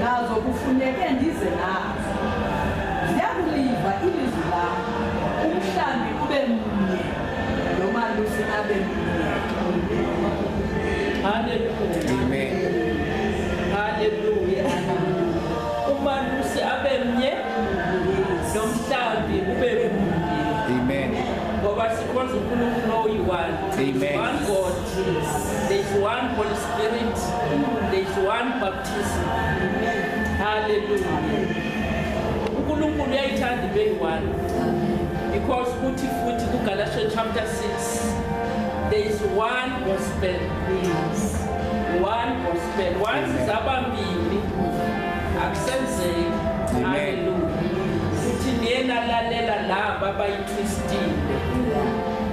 nazo kufuneke ndize nazo ndiyakuliva ilizwi lam umhlambi ube mnye nomalusi abe mnye haleluya umalusi abe mnye nomhlambi ube mnye ngoba sikhonza unkulunkulu oyi-one one god There's one Holy Spirit. There's one baptism. Hallelujah. uNkulunkulu uyayithanda ibe yi-one because kuthi futhi kuGalatians chapter 6 there is one gospel yes. one gospel once zabambili akusenzeki haleluya futhi niye nalalela laba abayithwistile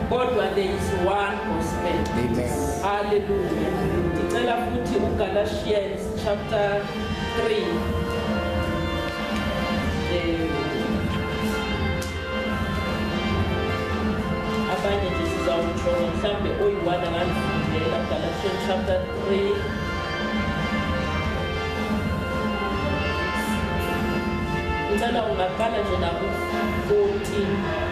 kodwa there is one Hallelujah. Ndicela futhi uGalatians chapter 3. Eh, abanye nje sizawutsho mhlawumbe oyi-one angandifundela Galatians chapter 3 ngicela ungaqala nje naku-14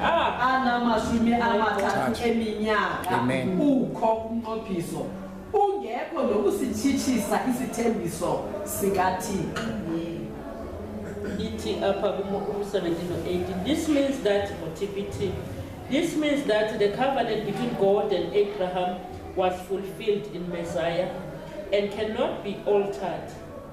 anamashumi amathathu eminyaka ukho umnqophiso ungekho nokusitshitshisa isithembiso sikathixo ithi apha ku-17 this means that ngo-tpt this means that the covenant between god and abraham was fulfilled in messiah and cannot be altered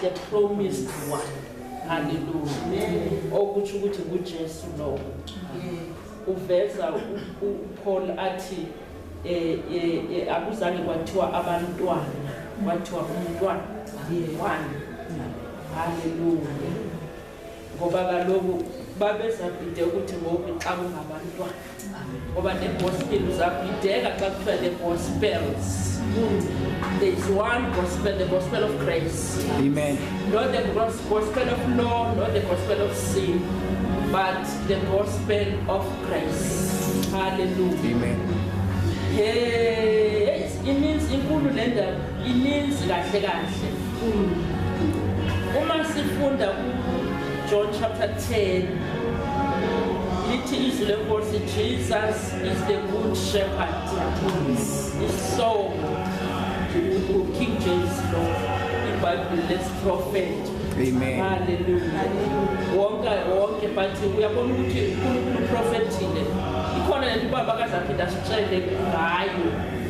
the promised one haleluya okutsho ukuthi ngujesu lowo uveza upaul athi eh, eh, eh, akuzange kwathiwa abantwana kwathiwa umntwana one haleluya ngoba kaloku babezabhide ukuthi ngoku xa kungabantwana ngoba negospel zabhideka xa kuthiwa the gospels there is one gospel the gospel of grace amen not the gospel of law not the gospel of sin but the gospel of grace hallelujah amen hey ininzi inkulu le ndaba Ininzi kahle kahle. Uma sifunda uJohn chapter 10 lithi izwi lenkosi Jesus is the good shepherd. Isihloko uKing James lo iBhayibheli lesiprofethi. Amen. Hallelujah. Wonke wonke but uyabona ukuthi uNkulunkulu uprofethile. Ikhona lento ubaba kaZaphinda sitshele ngayo.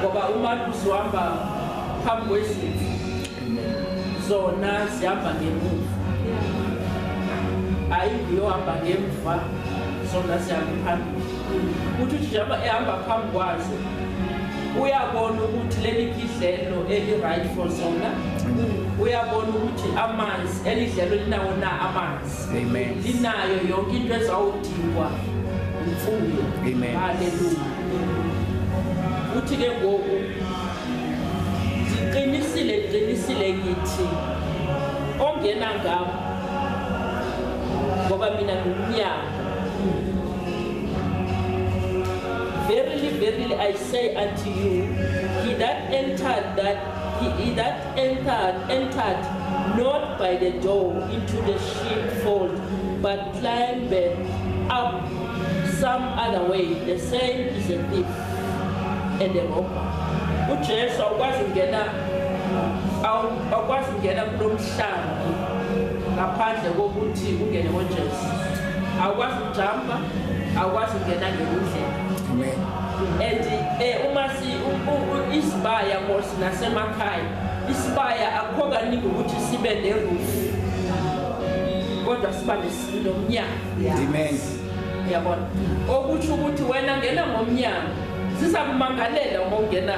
ngoba umalusi uhamba phambi kwezimvu zona zihamba ngemuva hayi ngiyohamba ngemva zona zihamba phambili ukuthi uthi njengoba ehamba phambi kwazo uyabona ukuthi leli kidlelo eli-right for zona uyabona ukuthi amanzi elidlelo linawo na amanzi Amen. Linayo yonke into ezawudingwa imfuyo. Amen. Haleluya. Uthi ke ngoku ndiqinisile ndiqinisile ngithi ongena ngam ngoba mina ngumnyango verily verily i say unto you he that entered that he, he that entered, entered not by the door into the sheepfold, but climbed up some other way. The same is a thief and a robber. UJesu awukwazi kungena awukwazi kungena kulo mhlambi ngaphandle kokuthi ungene koJesu. Awukwazi kujamba, awukwazi kungena ngendlela. Amen. And eh, uma isibaya kosi nasemakhaya isibaya akukho kaningi ukuthi sibe nerufu kodwa siba nomnyango amen yabona okusho ukuthi wena ngena ngomnyango sizakumangalela uma ungena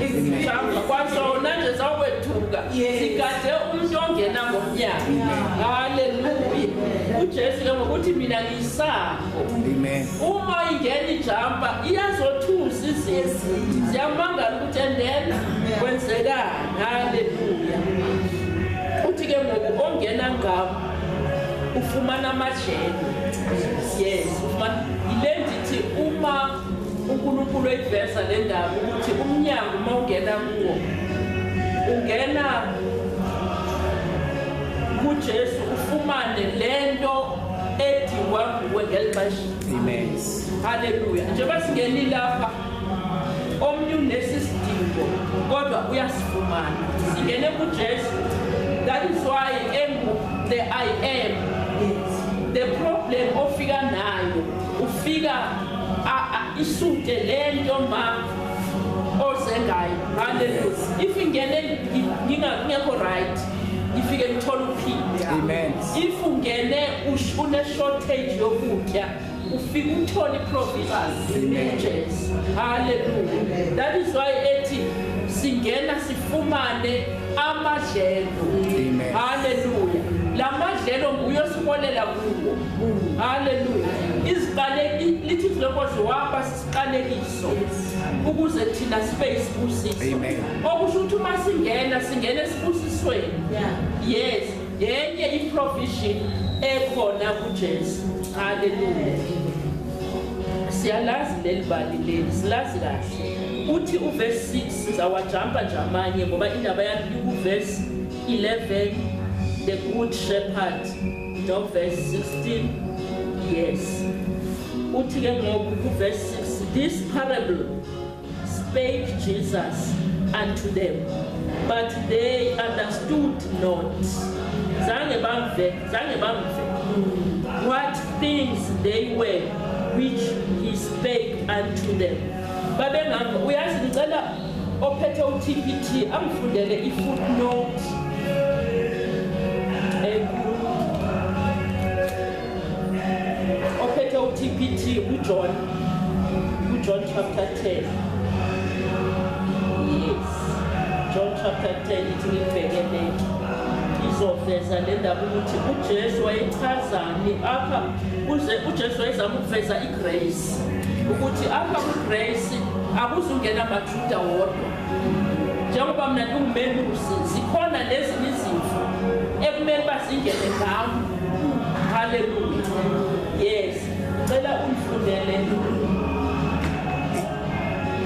izihamba kwasona nje zakwethuka sigade umuntu ongena ngomnyango haleluya ujesu ke ngokuthi mina ngisaba Amen. Uma ingena ijampa iyazothusa izizwe. Siyamangala ukuthi and then kwenzekani. Haleluya. Uthi ke ngoku ongena ngabo ufumana amajele. Yes, ufumana yile ndithi uma uNkulunkulu eyiveza le ndaba ukuthi umnyango uma ungena kuwo ungena kuJesu ufumane lento edingwa nguwe ngeli xesha amen haleluya njengoba singeni lapha omnye unesi sidingo kodwa uyasifumana singene kujesu that is why engu the i am the problem ofika nayo ufika isute le nto ma oze ngayo haleluya if ingene ngingakho right ngifike ngithola uphinde amen if ungene une shortage yokutya ufika uthole iprovisions emergence hallelujah that is why ethi singena sifumane amadlelo hallelujah la madlelo nguye osibolela kuwo hallelujah iziqaleki lithi izilokozi waba sisiqalekiso ukuze thina sibe isibusiso okusho ukuthi uma singena singena esibusisweni yes Yenye i-provision ekhona kuJesu. Haleluya. Siyalazi leli bali leli, silazi kahle. Uthi uverse 6 sizawajampa nje amanye ngoba indaba yakhe ikuverse 11 the good shepherd no verse 16 yes uthi ke ngoku kuverse 6 this parable Spake Jesus unto them, but they understood not. Zange bamve, zange bamve. What things they were which he spake unto them. Babengamva, uyazi ngicela ophethe uTPT angifundele ifootnote ophethe uTPT uJohn uJohn chapter 10 yes John chapter 10 ithi ngibheke lento izoveza le ndaba ukuthi uJesu wayechazani apha uze uJesu wayezama ukuveza igrace ukuthi apha kugrace akuzungena amaJuda wodwa njengoba mina ngiwumelusi zikhona lezi izimfu ekumele bazingene ngami haleluya yes cela ungifundele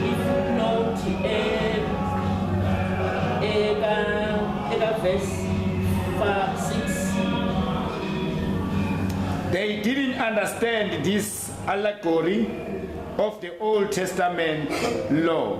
ifutnoti ekavesi 6 they didn't understand this allegory of the old testament law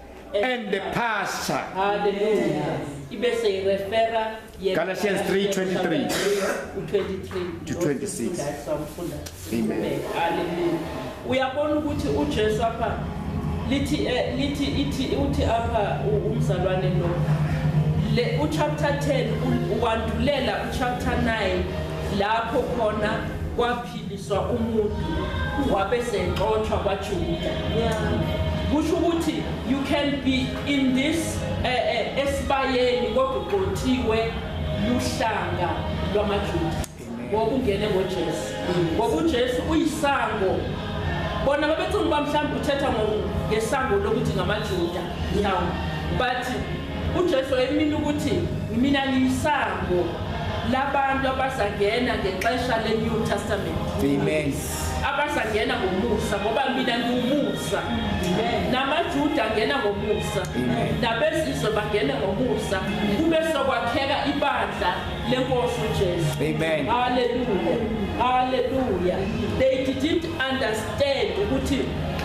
and the pastor. Hallelujah. Ibese irefera ye Galatians 3:23 u23 to 26. Samfunda. Amen. Hallelujah. Uyabona ukuthi uJesu apha lithi eh, lithi ithi uthi apha u- umzalwane lo le uchapter 10 u- wandulela uchapter 9 lapho khona kwaphila Swa umuntu wabe sexotshwa kwaJuda. Kusho ukuthi you can be in this eh, eh, esibayeni kodwa uqothiwe luhlanga lwamaJuda. Ngoba ungene ngoJesu. Ngoba uJesu uyisango. Bona babethi ngiba mhlawumbe uthetha ngesango lokuthi ngamaJuda. Now but uJesu wayemina ukuthi mina ngiyisango labantu abazangena ngexesha le-new testament amen abazangena ngomusa ngoba mina ngiwumusa namajuda angena ngomusa nabezizwe bangene ngomusa kube sokwakheka ibandla lenkosi ujesu amen haleluya haleluya they didn't understand ukuthi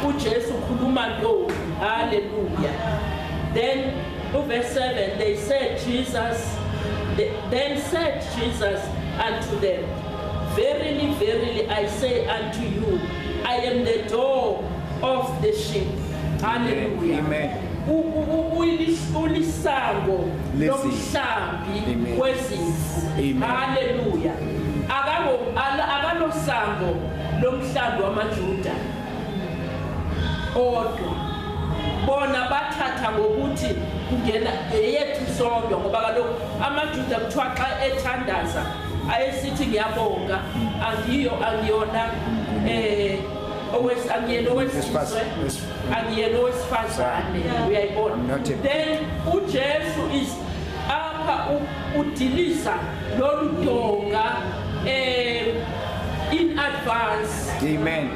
ujesu ukhuluma ntoni haleluya then Verse 7 they said Jesus then said Jesus unto them verily verily I say unto you I am the door of the sheep hallelujah amen ulisango lomhlambi wezimvu haleluya akalosango lomhlambi wamajuda kodwa bona bathatha ngokuthi kungena eyethu sodwa ngoba kaloku amajuda kuthiwa xa ethandaza ayesithi ngiyabonga angiyo angiyona um angiyena owesizwe angiyena owesifazane uyayibona then ujesu is apha udilisa lolu donga um in advance amen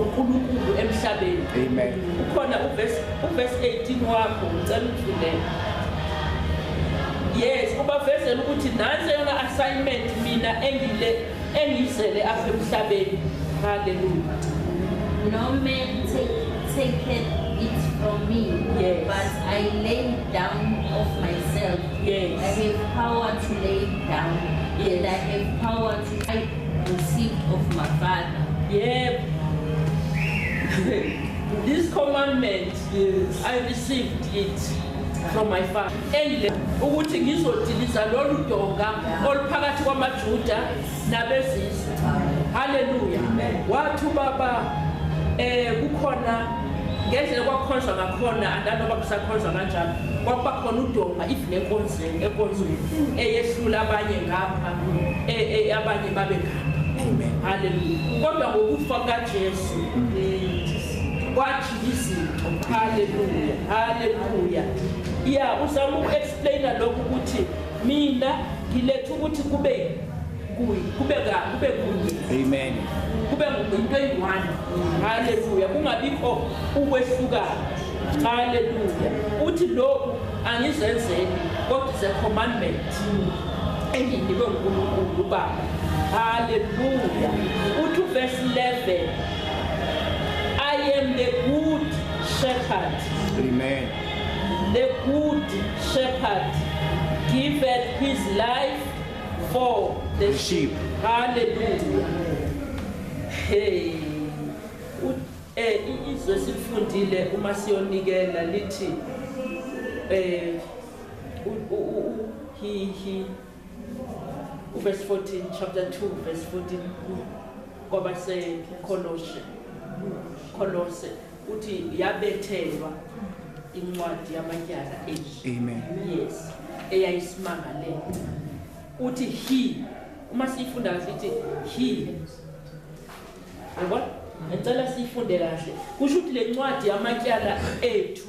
uNkulunkulu emhlabeni amen ukhona uverse uverse 18 wakho ngicela ukuvulele yes ubavezela ukuthi nansi yona assignment mina engile engizele apha emhlabeni haleluya no man take take it from me yes. but i lay down of myself yes. i have power to lay down yes. and i have power to I received of my father. Yep. this commandment, yes. I received it from my father. Endle ukuthi ngizodiliza lolu donga oluphakathi kwamaJuda nabezizwe. Hallelujah. Wathi baba eh kukhona ngendlela kwakhonjwa ngakhona andanoba kusakhonjwa kanjani kwakuba khona udonga if nenkonzo enkonzweni eyehlula abanye ngapha e, e, abanye babe ngapha haleluya kodwa ngokufa kajesu kwajika izinto haleluya haleluya ya uzama uku-explaina lokhu ukuthi mina ngiletha ukuthi kube kuye kube ka kube kunye amen kube into eyi-one haleluya kungabikho ukwehlukana haleluya uthi lokhu angizenzeli kodwa is a commandment enginikwe ngunkulunkulu ubaba haleluya uthi uvesi 11 i am the good shepherd amen the good shepherd giveth his life for the sheep hallelujah hey eh izwe silifundile uma siyonikela lithi eh he he verse 14 chapter 2 verse 14 kwabase Colossians Colossians uthi yabethelwa incwadi yamatyala yes eyayisimangalela uthi he uma siyifunda kahle ithi he yabona ngicela siyifunde kahle kusho ukuthi le ncwadi yamatyala ethu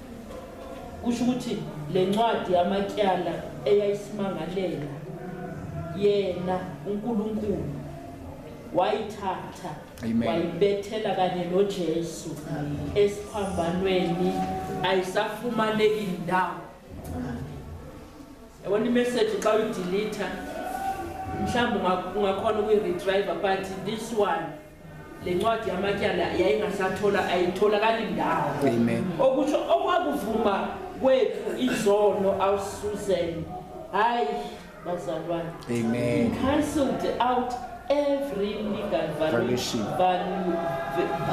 kusho ukuthi le ncwadi yamatyala eyayisimangalela yena uNkulunkulu wayithatha wayibethela kanye noJesu esiphambanweni ayisafumaneki ndawo yabona imessage xa uyidelete mhlawumbe ungakhona ukuyi-retriver but this one lencwadi yamatyala yayingasathola ayitholakali ndawo okusho okwakuvuma kwethu izono awusuzen hayi bazalwane amen cancelled out every legal violation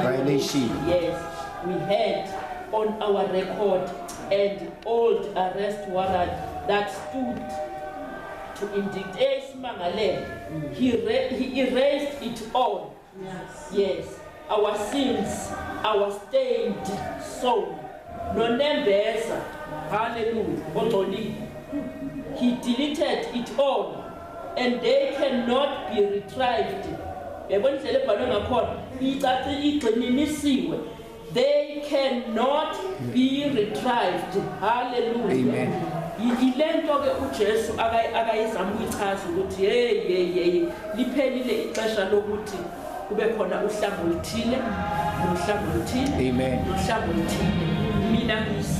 violation yes we had on our record and old arrest warrant that stood to indict esimangalele he, he erased it all yes, yes. our sins our stained soul nonembeza haleluya ongcolile he deleted it all and they cannot be retrieved yabona indlela ebhalwe ngakhona icaci igxininisiwe They cannot be retrieved. Hallelujah. Amen. yilento ke uJesu akayizama ukuyichaza ukuthi hey hey hey liphelile ixesha lokuthi kube khona uhlango oluthile nohlango oluthile amen uhlango oluthile mina ngisa